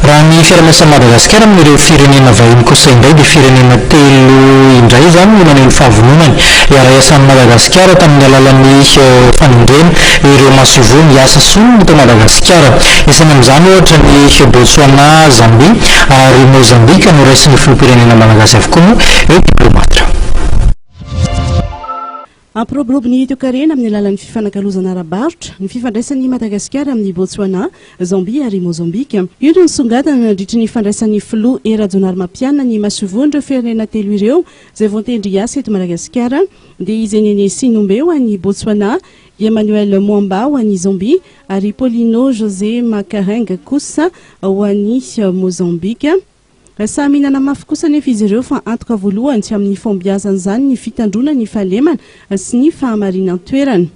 Raha ny fiaraha-miasan'i Madagasikara amin'ireo firenena vahiny kosa indray dia firenena telo indray izany no naneho ny fahavononany hiara-hiasa amin'i Madagasikara tamin'ny alalan'ny fanendrena ireo masoivoho miasa solony eto Madagasikara. Isaina amin'izany ohatra ny Botswana, Zambia ary Mozambika noraisin'ny filoham-pirenena malagasy avokoa moa io diplaomaty io. Hampiroborobo ny toekarena amin'ny alalan'ny fifanakalozana ara-barotra ny fifandraisan'i Madagasikara amin'i Bôtsoanà, Zambia ary Môzambika. Io no nisongadina nandritry ny fandraisan'ny filoha Hery Rajaonarimampianina ny masoivohon'ireo firenena telo ireo izay voantendry hiasa eto Madagasikara, dia i Zenene Sinombe ho an'i Bôtsoanà, i Emmanuel Mwamba ho an'i Zambia ary i Paulino José Macarenga kosa ho an'i Môzambika. Samy mihinana mafy kosa anefa izy ireo fa antoka voalohany amin'ny fahombiazan'izany ny fitandroana ny fahalemana sy ny fahamarinan-toerana.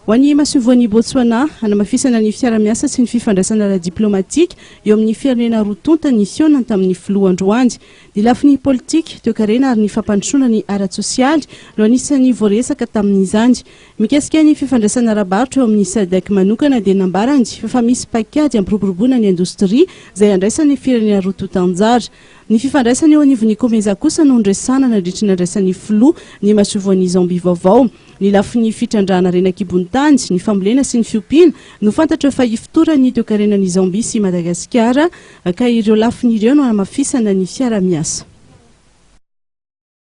Ho an'ny masoivohon'i Botswana, hanamafisana ny fiarahamiasa sy ny fifandraisana ara-diplaomatika eo amin'ny firenena roa tonta ny fihaonany tamin'ny filoha androany. Ny lafiny politika, toekarena ary ny fampandrosoana ny ara-tsosialy no anisan'ny voaresaka tamin'izany. Mikasika ny fifandraisana ara-barotra eo amin'ny Sadc manokana dia nambarany fa misy paikady hampiroboroboana ny indostria izay handraisan'ny firenena roa tonta anjara. Ny fifandraisana eo anivon'ny Comesa kosa no niresahana nandritry ny nandraisan'ny Filoha ny masoivoan'i Zambie vaovao. Ny lafiny fitrandrahana harena an-kibon-tany, ny fambolena sy ny fiompiana no fantatra fa hifotoran'ny toekarenan'i Zambie sy Madagasikara ka ireo lafiny ireo no hanamafisana ny fiaraha-miasa.